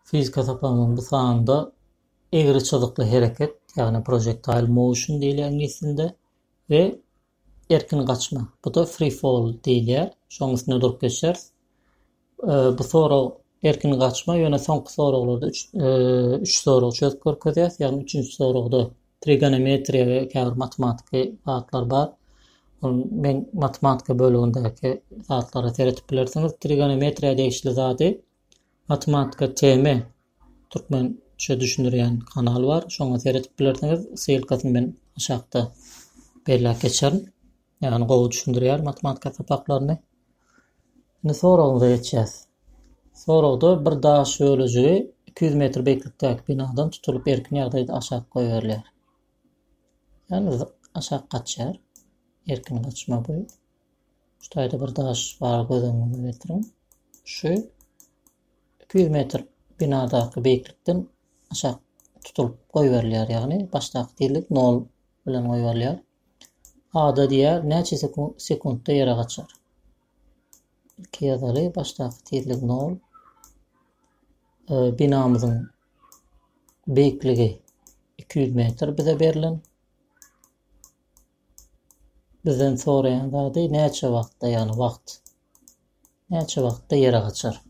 Fizika sapagynyň bu sanynda egri çyzykly hereket, ýagny projectile motion diýilýär iňlis dilinde we erkin gaçma, bu-da free fall diýilýär, şonuň üstünde durup geçýäris. Bu sorag erkin gaçma, ýöne soňky soraglarda üç sorag çözüp görkezýäris, ýagny üçünji soragda Trigonometriýa we käbir matematiki zatlar bar. Ol men matematika bölegindäki zatlara seretip bilersiňiz. Trigonometriýa degişli zady matematika teme türkmen şu düşündirýän kanal bar. Şoňa seretip bilersiňiz. Ssylkasyny men aşakda belläp geçerin. Ýagny gowy düşündirýär matematika sapaklaryny. Indi soragymyza geçýäs. Soragda bir daş bölejigi iki ýüz metr beýiklikdäki binadan tutulyp erkin ýagdaýda aşak goýberilýär. Ýagny aşak gaçýar. Erkin gaçma bu. Şu taýda bir daş bar göz öňüňize getiriň. Şu 200 metr binadaky beýiklikden aşak tutulyp goýberilýär. Ýagny başdaky tizlik 0 bilen goýberilýär. Ada diýer, näçe sekuntda ýere gaçar? Ilki ýazaly, başdaky tizlik 0. Binamyzyň beýikligi 200 metr bize berlen. Bizden soraýan zady näçe wagtda, ýagny wagt. Näçe wagtda ýere gaçar?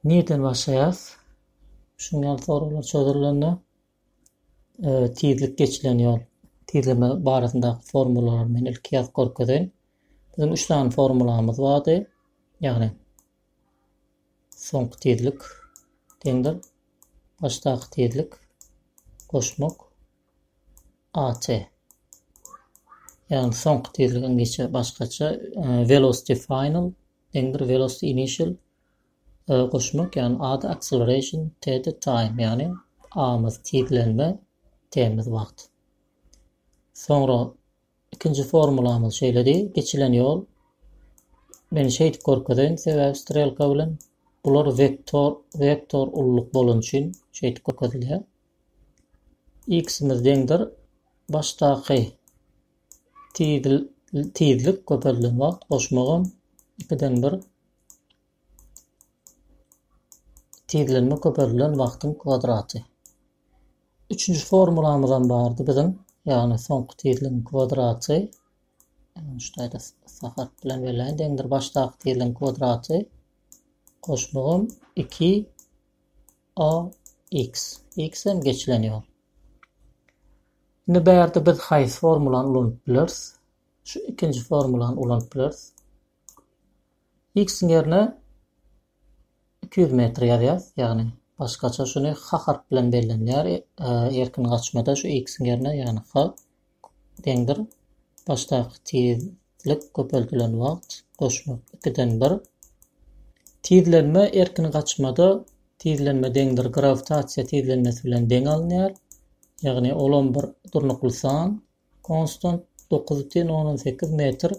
Nirden başlaýas? Şuňňal soraglar çözülende. tizlik geçilen ýol tizleme barasyndaky formulalary men ilki ýazyp görkezeýin. Biziň üç sany formulamyz bardy. Ýagny soňky tizlik deňdir başdaky tizlik goşmak AT. Ýagny soňky tizlik ingiçe başgaça velocity final deňdir velocity initial Goşmak ýagny ady acceleration TD time ýagny amyz, tizlenme, temiz wagt. Soňra ikinji formulamyz şeýledi, geçilen ýol men şeýdip görkezeýin sebäbi strelka bilen bular vektor vektor ulluk bolany üçin şeýdip görkezilýär. X-imiz deňdir başdaky tizlik köpelden wagt goşmagam 2-den 1 Tizlenme köpeldilen wagtyň kwadraty. Üçünji formulamyzam bardy biziň. Ýagny soňky tizligiň kwadraty. Şuýda sag harp bilen belläýin. Deňdir başdaky tizligiň kwadraty. Goşmagym 2 a x. X hem geçilen ýol. Indi bärde biz haýsy formulany ulanyp bileris? Şu ikinji formulany ulanyp bileris. X-iň ýerine iki ýüz metr ýazýas, ýagny başgaça şuny ha harp bilen bellenilýär, erkin gaçmada şu X-iň ýerine ýagny ha deňdir başdaky tizlik köpeldilen wagt goşmak ikiden bir. Tizlenme erkin gaçmada tizlenme deňdir grawitasiýa tizlenmesi bilen deň alynýar, ýagny olam bir durnukly san, konstant, dokuz biten ondan sekiz metr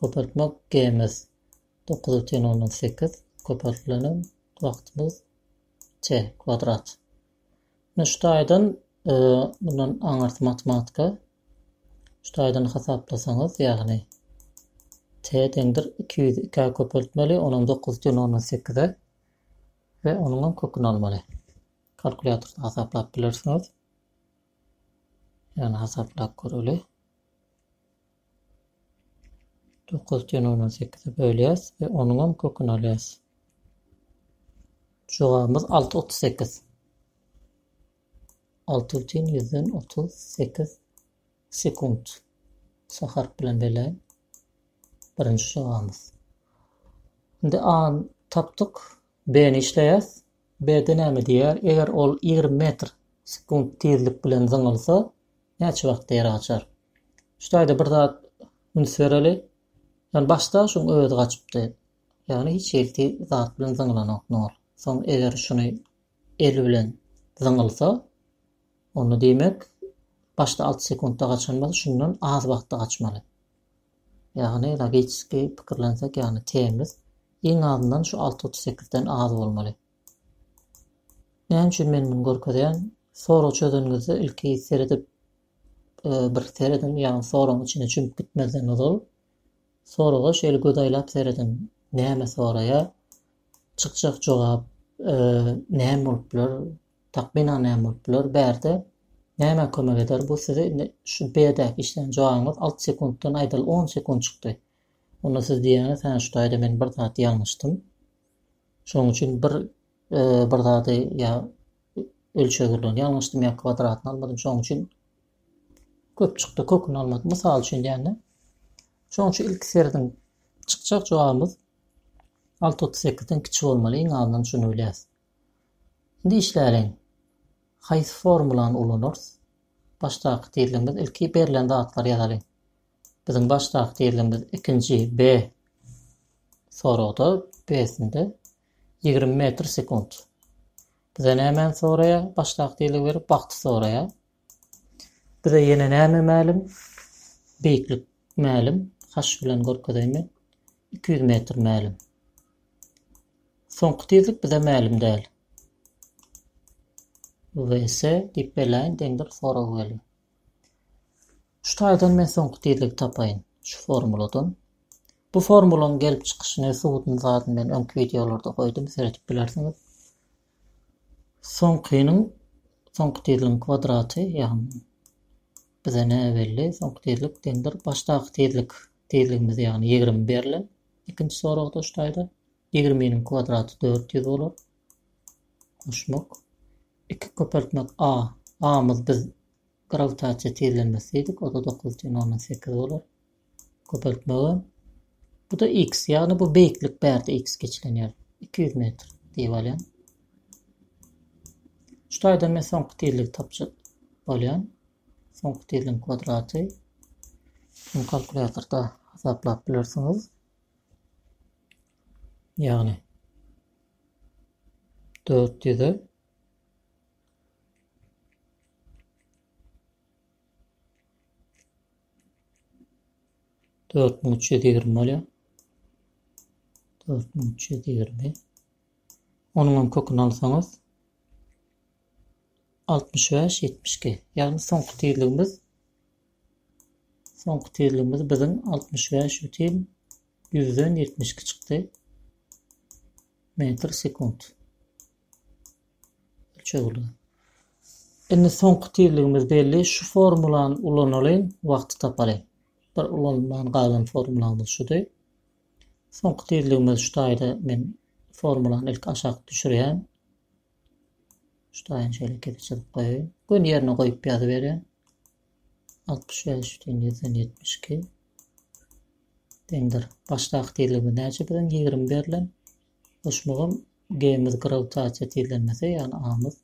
Gopartmak GMS dokuz bütin ondan sekiz gopartlanan wagtymyz C kwadrat. Indi şu taýdan e, bundan aňyrsy matematika şu taýdan hasaplasaňyz ýagny T deňdir 202 köpeltmeli onuň 9 bütin ondan sekize we onuň köküni almaly. Kalkulýatorda hasaplap bilersiňiz. Ýagny hasaplap göreli. Dokuz ten ony sekize bölýäs we onuňam köküni alýas. Jogabymyz alty otuz sekiz. Alty ten ýüzden otuz sekiz sekunt. Sa harp bilen belläýin. Birinji jogabymyz. Indi A tapdyk. B-ni işleýäs. B-de näme diýýär? Eger ol 20 metr sekunt tizlik bilen zyňylsa, Näçe wagtda ýer gaçar? Şu taýda bir zat üns bereli. Ýöne başda şuň özi gaçypdy. Ýagny hiç hili zat bilen zyňylanok nol. Soň eger şuny el bilen zyňylsa, onda diýmek başda alty sekuntda gaçan bolsa şundan az wagtda gaçmaly. Ýagny logiki pikirlensek, ýagny t-miz iň azyndan şu alty otuz sekizden az bolmaly. Näme üçin men muny görkezýän? Sorag çözeniňizde ilki seredip bir serediň, ýagny soragyň içine çümüp gitmezden ozal soraga şeýle göz aýlap serediň. Näme soraýar? Çykjak jogap näme bolup biler? Takmynan näme bolup biler? Bärde näme kömek eder? Bu size indi şu B-däki işlän jogabyňyz alty sekuntdan aýdaly on sekunt çykdy. Onda siz diýýäňiz, hä şu taýda men bir zat ýalňyşdym. Şonuň üçin bir bir zady ýa ölçegirlerini ýalňyşdym ýa kwadratyny almadym. Şonuň üçin köp çykdy, köküni almadym. Mysal üçin diýende. Şonuň üçin ilki serediň çykjak jogabymyz 6.38-den kiçi bolmaly. Iň azyndan şuny bilýäs. Indi işläliň. Haýsy formulany ulanarys? Başdaky tizligimiz ilki berlen zatlary ýazalyň. Biziň baş takdirimiz ikinji B soragda B-sinde ýigrimi metr sekunt. Bize nämäni soraýar? Baş takdirligi berip wagty soraýar. Bize ýene näme mälim? Beýiklik mälim. H bilen görkezeýme. 200 metr mälim. Soňky tizlik bize mälim däl. VS diýip belaýyn deňdir sorag geldi. Şu taýdan men soňky tizligi tapaýyn şu formuladan. Bu formulaň gelip çykyşyny, subutyny zadyny men öňki wideolarda goýdum, seredip bilersiňiz. Soňkynyň, soňky tizligiň kwadraty, ýagny bize ne belli, soňky tizlik deňdir başdaky tizlik, tizligimiz ýagny ýigrimi berlen ikinji soragda şu taýda. Ýigriminiň kwadraty dört ýüz bolar. Goşmak. Iki köpeltmek a. A-myz biz grawitasiýa tizlenmesi diýdik, o-da dokuz deň ondan sekiz bolar. Köpeltmegi bu-da x, ýagny bu beýiklik bärde x geçilen ýer. Iki ýüz metr diýip alýan. Şu taýdan men soňky tizligi tapjak bolýan. Soňky tizligiň kwadraty. Bunu kalkulýatorda hasaplap bilersiňiz. Ýagny dört ýüze dört müň üç ýüz ýigrimi bolýar. Dört müň üç ýüz ýigrimi. Onuňam köküni alsaňyz altmyş bäş ýetmiş iki. Ýagny soňky tizligimiz soňky tizligimiz biziň altmyş bäş bütin Ýüzden ýetmiş iki çykdy. Metr sekunt. Ölçegli. Indi soňky tizligimiz belli. Şu formulany ulanalyň, wagty tapalyň. Bir ulanman galan formulamyz şudy. Soňky tizligimiz şu taýda men formulany ilk aşak düşürýän. Şu taýyny şeýle kesip çyzyp goýaýyn. Gün ýerine goýup ýazyberýän. Altmyş bäş ýüzden ýüzden ýetmiş iki deňdir. Başdaky tizligimiz näçe? Biziň ýigrimi berlen. Goşmagam G-miz grawitasiýa tizlenmesi, ýagny A-myz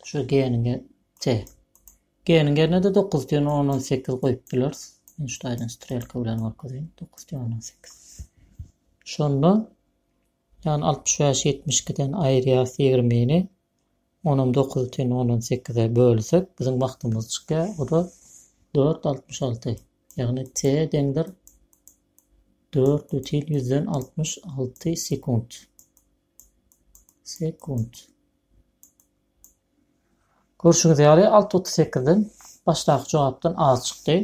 şu G-niň T. G-niň ýerine-de dokuz ýüz ondan sekiz goýup bileris. Men şu taýdan strelka bilen görkezeyim. Dokuz ýüz ondan sekiz. Şonda ýagny altmyş bäş ýetmiş ikiden aýyrýarys ýigrimini. On on dokuzy ten on on sekize bölsek biziň wagtymyz çykýar. O da dört altmyş alty. Ýagny t deňdir dört bütin ýüzden altmyş alty sekunt. Sekunt. Görşüňiz ýaly alty otuz sekizden başdaky jogapdan az çykdy.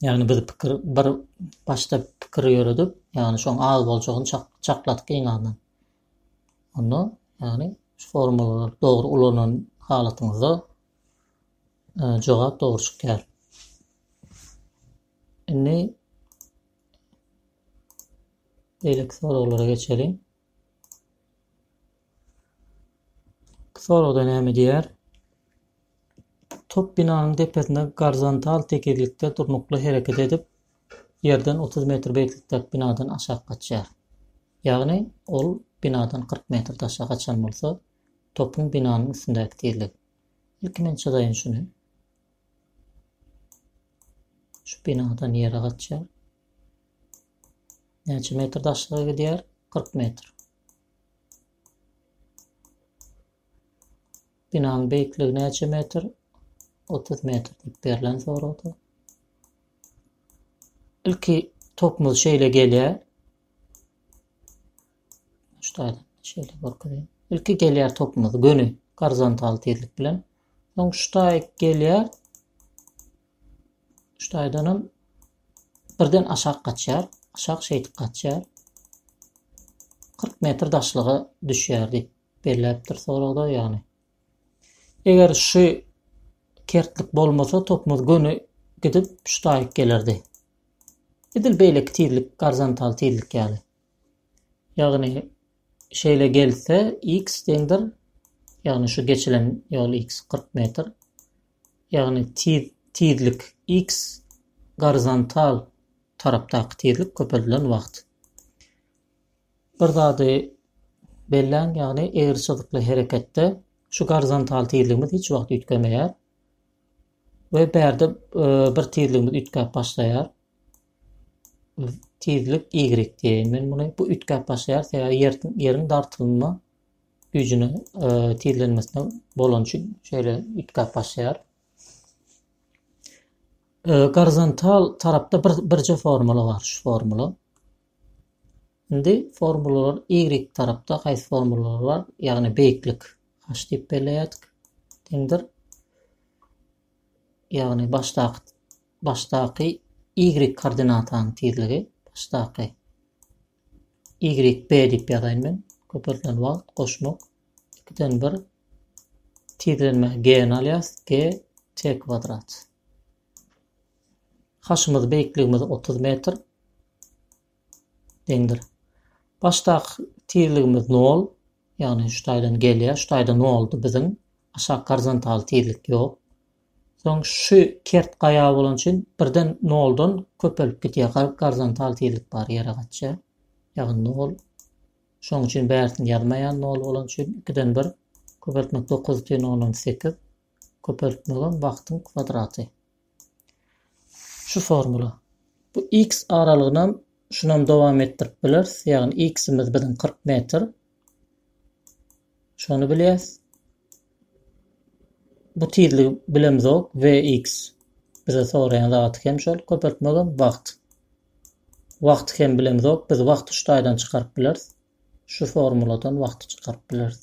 Ýagny biz pikir bir başda pikir ýöredip, ýagny şoň az boljagyny çakladyk iň azyndan. Onda, ýagny şu formulalary dogry ulanan halatyňyzda jogap dogry çykýar. Indi beýleki soraglara geçeliň. Soragda näme diýer? Top binanyň depesinde gorizontal tekizlikde durnukly hereket edip, ýerden 30 metr beýiklikdäki binadan aşak gaçýar. Ýagny, ol binadan kyrk metr daşa gaçan bolsa, topuň binanyň üstündäki tizligi. Ilki men çyzaýyn şuny. Şu binadan ýere gaçýar. Näçe metr daşlyga gidýär? Kyrk metr. Binanyň beýikligi näçe metr? Otuz metr diýip berlen soragda. Ilki topumyz şeýle gelýär. Şutaýdan şeýle görkezýän. Ilki gelýär topumyz göni gorizontal tizlik bilen. Soň şutaý gelýär. Şutaýdan hem birden aşak gaçýar. Aşak şeýdip gaçýar. 40 metr daşlyga düşýär diýip Belläpdir soragda ýagny. Eger şu kertlik bolmasa topumyz göni gidip şu taýyk gelerdi. Edil beýleki tizlik gorizontal tizlik ýaly. Ýagny şeýle gelse x deňdir. Ýagny şu geçilen ýol x 40 metr. Ýagny tiz tizlik x gorizontal tarapdaky tizlik köpeldilen wagt. Bir zady belläň, ýagny egriçyzykly hereketde şu gorizontal tizligimiz hiç wagt üýtgemeýär we bärde bir tizligimiz üýtgäp başlaýar. Tizlik y diýeýin men muny. Bu üýtgäp başlaýar, sebäbi ýer ýeriň dartylma güýjüne tizlenmesine bolany üçin şeýle üýtgäp başlaýar. Gorizontal tarapda bir birje formula bar, şu formula. Indi formulalar y tarapda haýsy formulalar bar? Ýagny beýiklik h diýip belleýärdik. Deňdir. Ýagny başdaky başdaky y koordinatanyň tizligi başdaky y b diýip ýazaýyn men. Köpeldilen wagt goşmak 2-den 1 tizlenme g-ni alýas g t kwadrat. Haşymyz beýikligimiz 30 metr. deňdir. Başdaky tizligimiz nol, ýagny şu taýdan gelýär, şu taýda noldy biziň, aşak gorizontal tizlik ýok. Soň şu kert gaýa bolan üçin birden noldan köpelip gidýär, gar- gorizontal tizlik bar ýere gaçýar. Ýagny nol. Şonuň üçin bärisini ýazmaýan nol bolan üçin ikiden bir köpeltmek dokuz tein ondan sekiz köpeltmegem wagtyň kwadraty. Şu formula. Bu x aralygynam şunam dowam etdirip bileris. Ýagny x-imiz biziň 40 metr. Şony bilýäs. Bu tizligi bilemizok. Vx bize soraýan zat hem şol köpeltmegem wagt. Wagt hem bilemizok. Biz wagty şu taýdan çykaryp bileris. Şu formuladan wagty çykaryp bileris.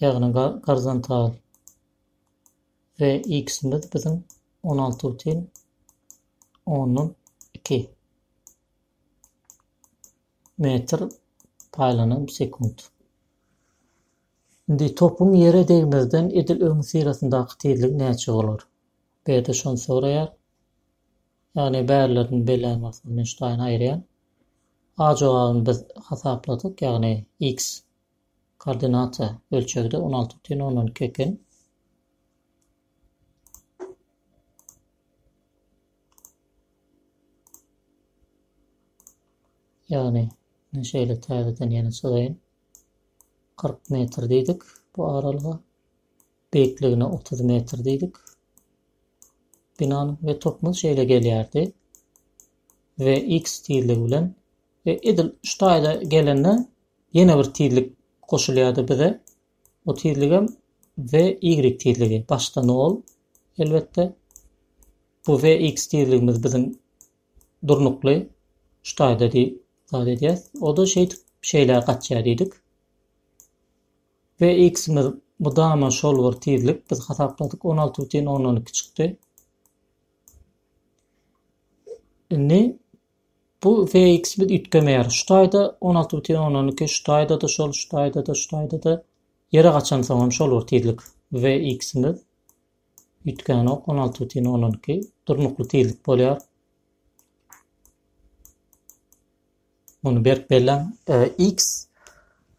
ýagny gorizontal we x-imiz biziň on alty butyn ondan iki metr paýlanan sekunt. Indi topuň ýere degmezden edil öň syrasyndaky tizlik näçe bolar? Bu ýerde şony soraýar. Ýagny bärilerini belläň bolsa, men şu taýyny aýyrýan. A jogabyny biz hasapladyk, ýagny x Koordinata ölçegide on alty butyn ondan iki eken. Ýagny, men şeýle täzeden ýene çyzaýyn. 40 metr diýdik bu aralyga. Beýikligine 30 metr diýdik. Binanyň we topumyz şeýle gelýärdi. Ve x tizligi bilen We edil şu taýda gelende ýene bir tizlik goşulýardy bize. O tizligem we y tizligi. Başda nol elbetde. Bu we x tizligimiz biziň durnukly şu taýda diý zat edýäs. O da şeýdip şeýle gaçýar diýdik. We x-imiz mudama şol bir tizlik biz hasapladyk 16,12 çykdy. Indi Bu VX biz üýtgemeýär. Şu taýda on alty bütin ondan iki, şu taýda-da şol, şu taýda-da, şu taýda-da. Ýere gaçansoň hem şol bir tizlik VX-imiz. Üýtgänok, on alty bütin ondan iki. Durnukly tizlik bolýar. Muny berk belläň. E, X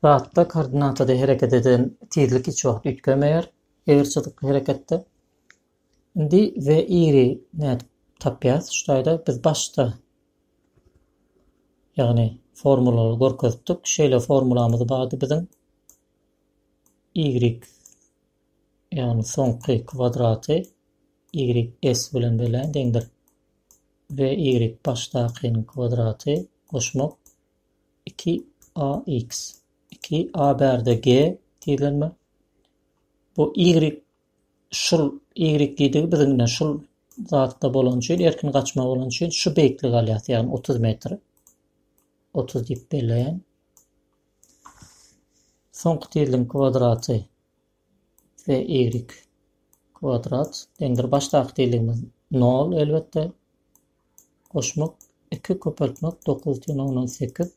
zatda koordinatada hereket eden tizlik hiç wagt üýtgemeýär. Eger çyzykly hereketde. Indi we iri nädip tapýas şu taýda biz başda ýagny formulany görkezipdik şeýle formulamyz bardy biziň ýigrik ýagny soňky kwadraty ýigrik s bilen berlen deňdir we ýigrik başdakynyň kwadraty goşmak iki a x iki a bärde g tizlenme bu ýigrik Şul ýigrikdigi biz ine şul zatda bolan üçin, erkin gaçma bolan üçin şu beýiklik alýas, ýagny otuz metr. Otuz diýip belleýän. Soňky tizligiň kwadraty we ýigrik kwadrat deňdir başdaky tizligimiz nol elbetde. Goşmak iki köpeltmek dokuz teň ondan sekiz.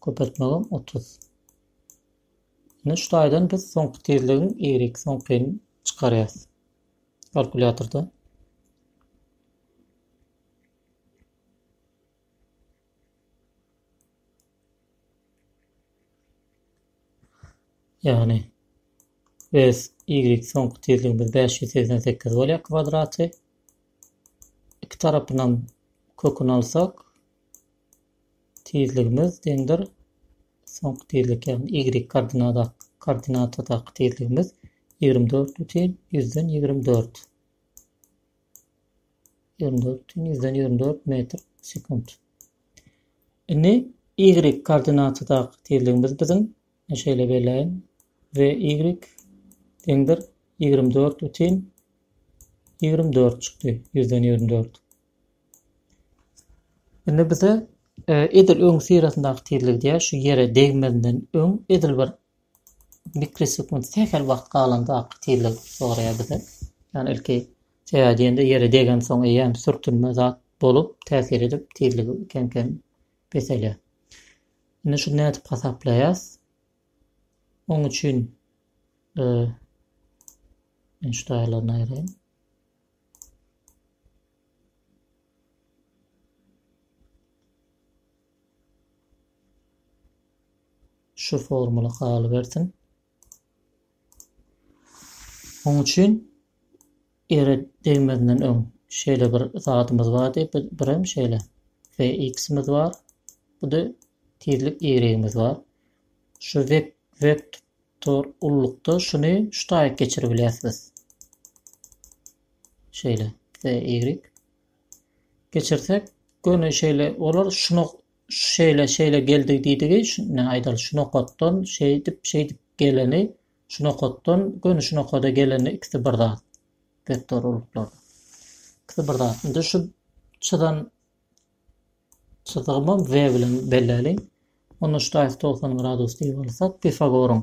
Köpeltmegem otuz. Indi şu taýdan biz soňky tizligiň y soňkyny çykarýas. Kalkulýatorda. Yani biz y soňky tizligimiz 588 bolýar kwadraty. İki tarapynam köküni alsak tizligimiz deňdir. Soňky tizlik, ýagny y koordinada, koordinatadaky tizligimiz ýigrimi dört bütin ýüzden ýigrimi dört. Ýigrimi dört bütin ýüzden ýigrimi dört metr sekunt. Indi y koordinatadaky tizligimiz biziň şeýle belläýin. V y deňdir ýigrimi dört bütin ýigrimi dört çykdy. Ýüzden ýigrimi dört. Indi bize edil öň syrasyndaky tizligi diýýär, şu ýere degmezinden öň edil bir mikrosekund sähel wagt galandaky tizligi soraýar bizden. Ýagny ilki sebäbi diýende ýere degensoň eýýäm sürtünme zat bolup, täsir edip tizligi kem-kem peselýär. Indi şuny nädip hasaplaýas? Oň üçin şu taýýarlaryny aýraýyn. Şu formula galybersin. Onuň üçin ere degmezinden öň şeýle bir zadymyz bardy. Bir hem şeýle ve x-imiz bar. Bu da tizlik y-imiz bar. Şu vekt vekt Tor ullukda şuny şu taýyp geçirip bilýärsiz. Şeýle. CY. Geçirsek göni şeýle olar şuna şeýle şeýle geldi diýdigi şuna aýdal şu nokatdan şeýdip şeýdip geleni şu nokatdan göni şu nokada geleni ikisi bir zat. Vektor ulluklarda. Ikisi bir zat. Indi şu çyzan Çyzygymam V bilen belläliň. Onda ştaýg togsan gradus diýip alsak, Pifagoryň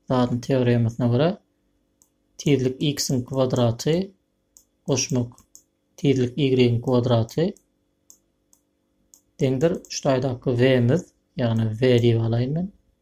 zadyny teoremasyna görä, tizlik x-iň kwadraty goşmak tizlik y-iň kwadraty deňdir ştaýdaky V-miz, ýagny V diýip alaýyn men.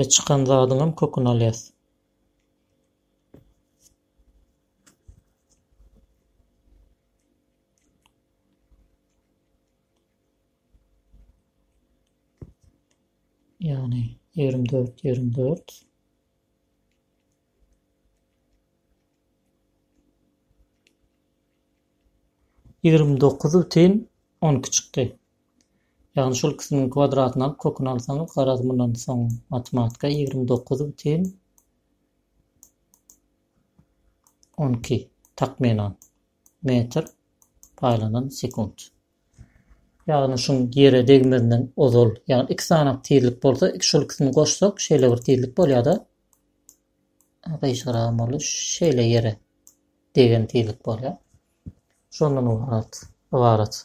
E çykan zadyňam köküni alýas. Ýagny ýigrimi dört, ýigrimi dört. Ýigrimi dokuz bitin on iki çykdy. Ýagny şol ikisiniň kwadratyny alyp köküni alsaňyz garaz mundan soň matematika ýigrimi dokuz bitin on iki takmynan metr paýlanan sekunt. Ýagny şuň ýere degmezinden ozal, ýagny iki sanak tizlik bolsa, iki şol ikisini goşsak şeýle bir tizlik bolýada. Gyşaragam boldy. Şeýle ýere degen tizlik bolýa. Şondan ybarat.